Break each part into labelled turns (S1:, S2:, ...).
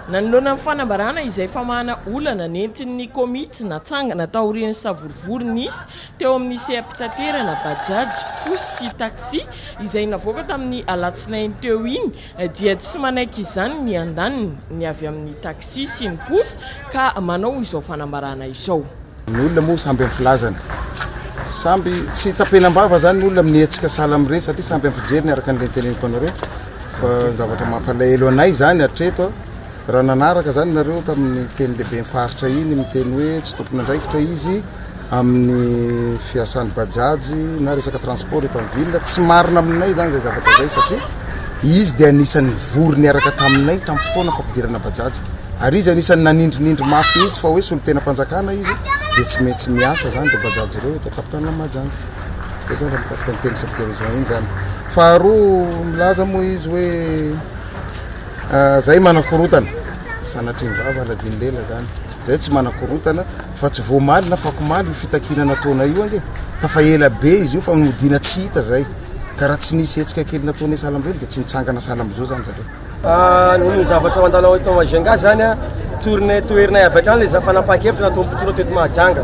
S1: Nanoloana ny fanambarana izay famahana olana nentin'ny komity natsangana taorian'ny savorovoro nisy teo amin'ny seha-pitaterana Bajaj, Pousse sy Taxi izay navoaka tamin'ny alatsinainy teo iny dia tsy manaiky izany ny andaniny ny avy amin'ny Taxi sy ny Pousse ka manao izao fanambarana izao. Ny olona moa samby
S2: amin'ny filazany. Samby tsy tapenam-bava zany ny olona amin'ny hetsika sahala amin'ireny satria samby amin'ny fijeriny araka ny teneniko anareo fa zavatra mampalahelo anay zany hatreto raha nanaraka zany nareo tamin'ny teny lehibe faritra iny miteny hoe tsy tompon'andraikitra izy amin'ny fiasan'ny bajajy na resaka transport eto amin'ny ville tsy marina aminay zany zay zavatra zay satria Izy dia anisan'ny nivory niaraka taminay tamin'ny fotoana fampidirana Bajaj. Ary izy anisan'ny nanindrinindry mafy mihitsy fa hoe solontenam-panjakana izy dia tsy maintsy miasa zany dia Bajaj ireo eto an-tampon-tanana amin'i Mahajanga. Dia zany raha mikasika ny teny subdérision iny zany. Faharoa milaza moa izy hoe ah, zay manakorotana sanatrian'ny vava Aladin Lela zany. Zay tsy manakorotana fa tsy voamaly na fakomaly io fitakiana nataonay io ange fa fa ela be izy io fa nodiana tsy hita zay. Ka raha tsy nisy hetsika kely nataonay sahala amin'ireny dia tsy nitsangana sahala amin'izao zany zareo. Ah, ny zavatra mandalo
S3: ao eto Majunga zany a, tournée toherinay avy hatrany le fanapahan-kevitra nataon'ny mpitondra teto Mahajanga.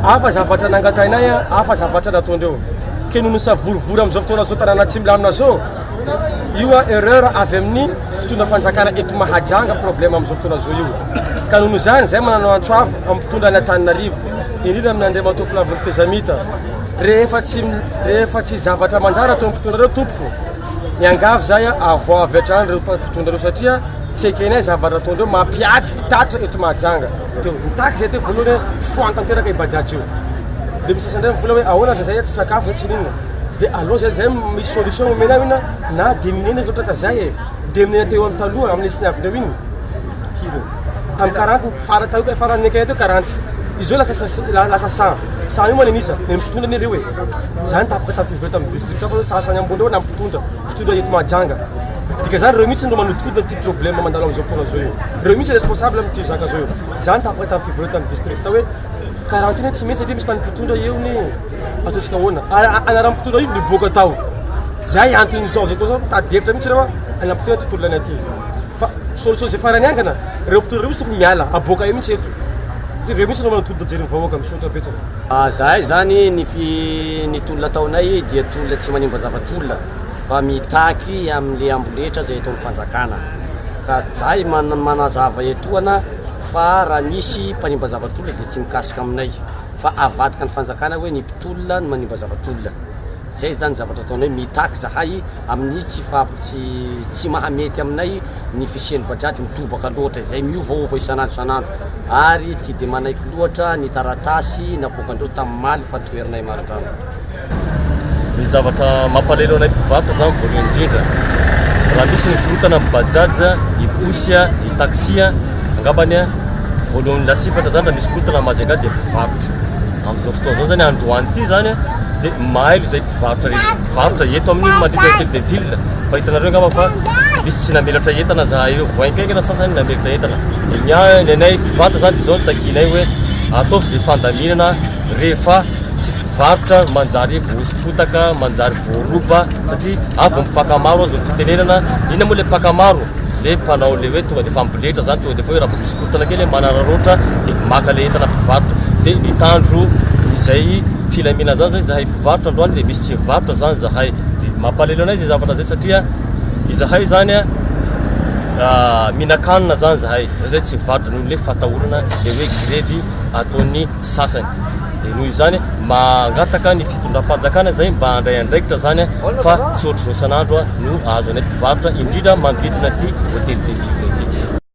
S3: Hafa zavatra nangatahinay a, hafa zavatra nataondreo. Ke no nisavorovoro amin'izao fotoana zao tanàna tsy milamina zao, io a erreur avy amin'ny mpitondra fanjakana eto Mahajanga problème amin'izao fotoana zao io. Ka noho izany, zay manana antso avo amin'ny mpitondra an'Antananarivo. Indrindra amin' Andriamatoa Flavonto Tezamita, rehefa tsy rehefa tsy zavatra manjara teo mpitondra reo tompoko, miangavy zay avoa avy hatrany reo mpitondra reo satria tsy ekenay zavatra ataondreo mampiady mpitatitra eto Mahajanga. Teo mitaky zay teo voalohany hoe foany tanteraka i Bajaj io. Dia misy sasany mivola hoe ahoana raha zay tsy sakafo zay tsy ninona. Dia aleo zay zay misy solution omena aminina na diminuer izy loatra ka zay e. Diminuer teo amin'ny taloha amin'ny sy ny avy teo iny. tamin'ny karant ny fara tao ka faran'ny ekay teo karant izy lasa lasa saha saha io manana iza ny mpitondra ny ireo e zany tapaka tamin'ny fivory tamin'ny district fa sasany amboleo na mpitondra mpitondra eto mahajanga dika zany reo mihitsy no manodikodina ty problème mandalo am'izao fotoana zao io reo mihitsy responsable amin'ity zaka zao io zany tapaka tamin'ny fivory tamin'ny district hoe Karantina tsy mety satria misy tany mpitondra eo ny ataontsika ahoana ary anarany mpitondra io niboaka tao zay antony zao zao zao mitady hevitra mihitsy reo anarany mpitondra tontolo laina aty fa solution zay farany angana reo mpitondra reo misy tokony miala aboaka eo mihitsy eto satria reo mihitsy no manao tolona jery vahoaka misaotra betsaka ah, zahay zany ny
S4: fi ny tolona ataonay dia tolona tsy manimba zavatr' olona fa mitaky amle amboletra zay ataony fanjakana ka zay manazava etoana fa raha misy mpanimba zavatr'olona dia tsy mikasika aminay fa avadika ny fanjakana hoe ny mpitolona no manimba zavatr'olona zay zany zavatra ataonay mitaky zahay amin'ny tsy fab tsy tsy mahamety aminay ny fisian'ny bajaj mitobaka loatra izay miovaova isan'andro isan'andro ary tsy dia manaiky loatra ny taratasy napoakandreo tamin'ny maly fa toherinay marindrano
S5: Ny zavatra mampalahelo anay mpivarotra izany voalohany indrindra, raha misy ny korontana amin'ny bajaj, ny pousse, ny taxi, angambany voalohany lasibatra izany raha misy korontana mahazo angaha dia ny mpivarotra. Amin'izao fotoana izao izany androany ity izany dia mailo izay mpivarotra rehetra, mpivarotra eto amin'ny manodidina ny hôtel de ville, fa hitanareo angamba fa misy tsy namelatra entana izahay ireo, voaikaika ny sasany namelatra entana, dia ny ahy, ny anay mpivady izany dia izao no takianay hoe ataovy izay fandaminana rehefa. Tsy mpivarotra manjary voahoso-potaka, manjary voaroba satria avy ny mpaka maro azo ny fitenenana. Inona moa ilay mpaka maro? Dia mpanao ilay hoe tonga dia efa miboletra izany, tonga dia efa hoe raha vao misy korontana kely manararaotra dia maka ilay entana mpivarotra. Dia mitandro izay filaminana izany izay izahay mpivarotra androany dia misy tsy mivarotra izany izahay. Dia mampalahelo anay izay zavatra izay satria izahay izany mihinan-kanina izany izahay, izay izay tsy mivarotra noho ilay fatahorana ilay hoe grevy ataon'ny. sasany dia noho izany mangataka ny fitondram-panjakana izay mba handray andraikitra izany fa tsy ohatr'izao san'andro no ahazo anay mpivarotra indrindra manodidina ity hotely Betsime ity.